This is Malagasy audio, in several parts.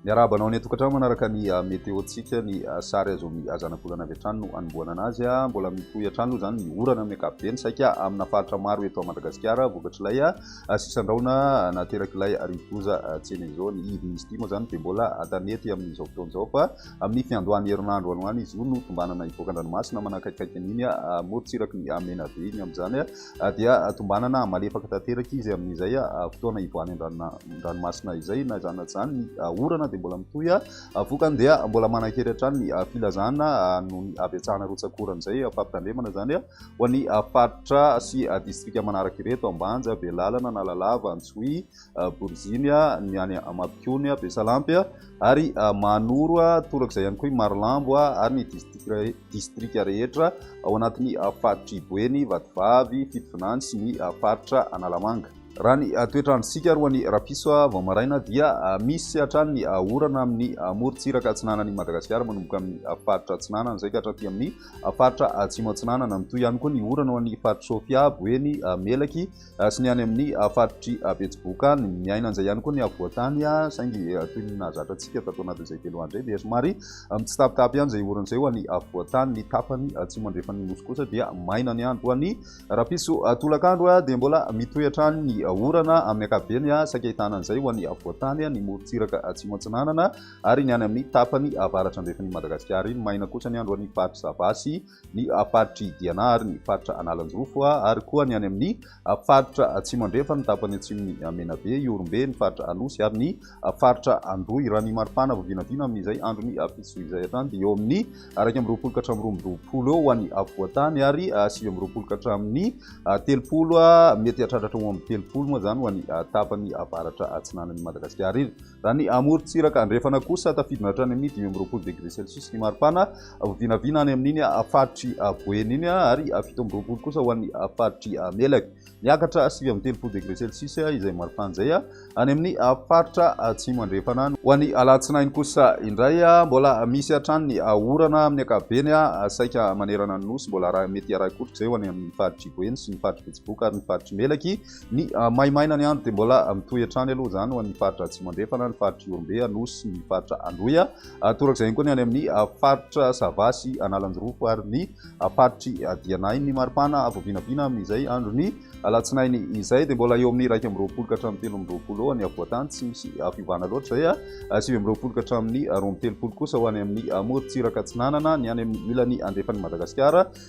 Miarahaba anao any an-tokantrano manaraka ny ah, meteontsika ny ah, sary azo amin'ny ah, zanabolana avy hatrany no anombohana anazy. Mbola mitohy hatrany aloha izany ny orana amin'ny ankapobeny saika amina faritra maro eto Madagasikara vokatr'ilay sisandraona naterak'ilay rivodoza Tsenezo. Ny izy ity moa izany dia mbola tanety amin'izao fotoana izao fa Amin'ny fiandohan'ny herinandro alohan'ny zoro no tombanana hivoaka an-dranomasina manakaikaiky an'iny morontsiraky ny Menabe iny. Amin'izany dia tombanana malefaka tanteraka izy amin'izay fotoana hivoahany an-dranomasina izay. Na izany na izany ny orana dia mbola mitohy, vokany dia mbola manan-kery hatrany ny filazana noho ny habetsahana rotsak'orana izay fampitandremana izany ho an'ny faritra sy distrika manaraka ireto, Ambanja, Belalana, Analalava, Antsohihy. Boriziny, ny any Amabikony, Besalampy ary Mahanoro, torak'izay ihany koa i Marolambo ary ny distrika rehetra ao anatin'ny faritr'i Boeny, Vatovavy, Fitovinany sy ny faritra Analamanga. Raha ny toetr'androntsika alohan'ny rapiso vao maraina dia misy hatrany ny orana amin'ny morontsiraka atsinanan'i Madagasikara manomboka amin'ny faritra atsinanana izay ka hatraty amin'ny faritra atsimo atsinanana. Mitohy ihany koa ny orana ao amin'ny faritr'i Sofia, Boeny, Melaky, sy ny any amin'ny faritr'i Betsiboka any. Miaina an'izay ihany koa ny afovoan-tany, saingy toy ny nahazatra antsika tato anatin'izay telo andro izay dia somary mitsitapitapy ihany izay orana izay ho an'ny afovoan-tany. Ny tapany atsimo andrefan'ny nosy kosa dia maina ny andro ho an'ny rahampitso tolakandro, dia mbola mitohy hatrany ny orana amin'ny ankapobeny, saika ahitana an'izay ho an'ny afovoan-tany, ny morontsiraka atsimo atsinanana ary ny any amin'ny tapany avaratra andrefan'i Madagasikara iny. Maina kosa ny andro any faritry Sava sy ny faritr'i Diana ary ny faritra Analanjirofo ary koa ny any amin'ny faritra Atsimo Andrefa, ny tapany atsimon'i Menabe, Ihorombe, ny faritra Anosy ary ny faritra Androy. Raha ny mari-pana vao vinavina amin'izay andron'ny fito zohy izay hatrany dia eo amin'ny iraika amby roapolo ka hatramin'ny roa amby roapolo eo ho an'ny afovoan-tany ary sivy amby roapolo ka hatramin'ny telopolo, mety hahatratra hatramin'ny roa amby telopolo moa izany ho an'ny tapany avaratra atsinanan'i Madagasikara. Raha ny amorontsiraka andrefana kosa, tafidina hatrany amin'ny dimy amby roapolo degré celsius ny maripana, vinavina any amin'iny faritry Boeny iny, ary fito amby roapolo kosa ho an'ny faritry Melaky. Miakatra sivy amby telopolo degré celsius izay maripana izay any amin'ny faritra Atsimo Andrefana. Ho an'ny alatsinainy kosa indray, mbola misy hatrany ny orana amin'ny ankapobeny, saika manerana ny Nosy. Mbola mety harahi-koroka izay ho any amin'ny faritry Boeny sy ny faritry Betsiboka ary ny faritry Melaky. Ny maimaina ny andro dia mbola mitohy hatrany aloha izany ho an'ny faritra Atsimo Andrefana, ny faritra Ihorombe, Anosy, ny faritra Androy. Torak'izay ihany koa ny any amin'ny faritra Sava sy Analanjirofo ary ny faritr'i Dianahy. Ny maripana vao vinavina amin'izay andron'ny alatsinainy izay dia mbola eo amin'ny iraika amby roapolo ka hatramin'ny telo amby roapolo eo any afovoan-tany, tsy misy fiovana loatra izay. Sivy amby roapolo ka hatramin'ny roa amby telopolo kosa ho any amin'ny morontsiraka atsinanana, ny any amin'ny ilany andefan'i Madagasikara.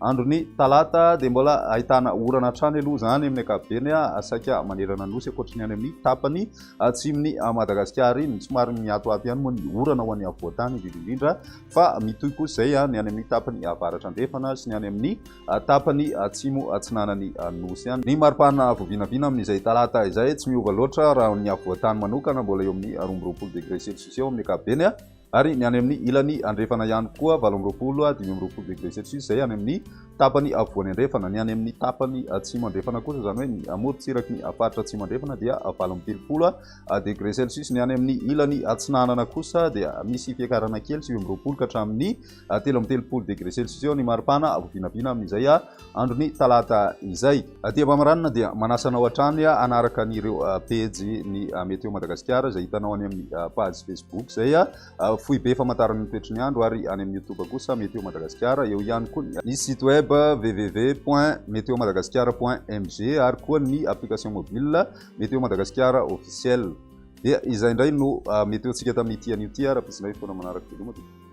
Andron'ny talata dia mbola ahitana orana hatrany aloha izany amin'ny ankapobeny, saika manerana ny nosy ankoatry ny any amin'ny tapany atsimon'i Madagasikara iny. Somary mihatoato ihany moa ny orana ho an'ny afovoan-tany indrindra indrindra fa mitohy kosa izay ny any amin'ny tapany avaratra andrefana sy ny any amin'ny tapany atsimo atsinanan'ny nosy any. Ny maripana vao vinavina amin'izay talata izay tsy miova loatra raha ny afovoan-tany manokana, mbola eo amin'ny roa amby roapolo degré celsius eo amin'ny ankapobeny. ary ny any amin'ny ilany andrefana ihany koa valo amby roapolo, dimy amby roapolo degré celsius, izay any amin'ny tapany afovoany andrefana. Ny any amin'ny tapany atsimo andrefana kosa, izany hoe ny amorontsiraky ny faritra atsimo andrefana dia valo amby telopolo degré celsius. Ny any amin'ny ilany atsinanana kosa dia misy fiakarana kely, sivy amby roapolo ka hatramin'ny telo amby telopolo degré celsius eo ny maripana vao vinavina amin'izay andron'ny talata izay. Aty Avameranina dia manasa anao hatrany hanaraka an'ireo pejy ny Météo Madagasikara izay hitanao any amin'ny page Facebook izay foibe famantarana ny toetry ny andro ary any amin'ny Youtube kosa Météo Madagasikara, eo ihany koa ny site web www point meteomadagascar point mg ary koa ny application mobile Météo Madagasikara officiel. Dia izay indray no météo-ntsika tamin'ity anio ity ary ampisinay fotoana manaraka veloma tompoko.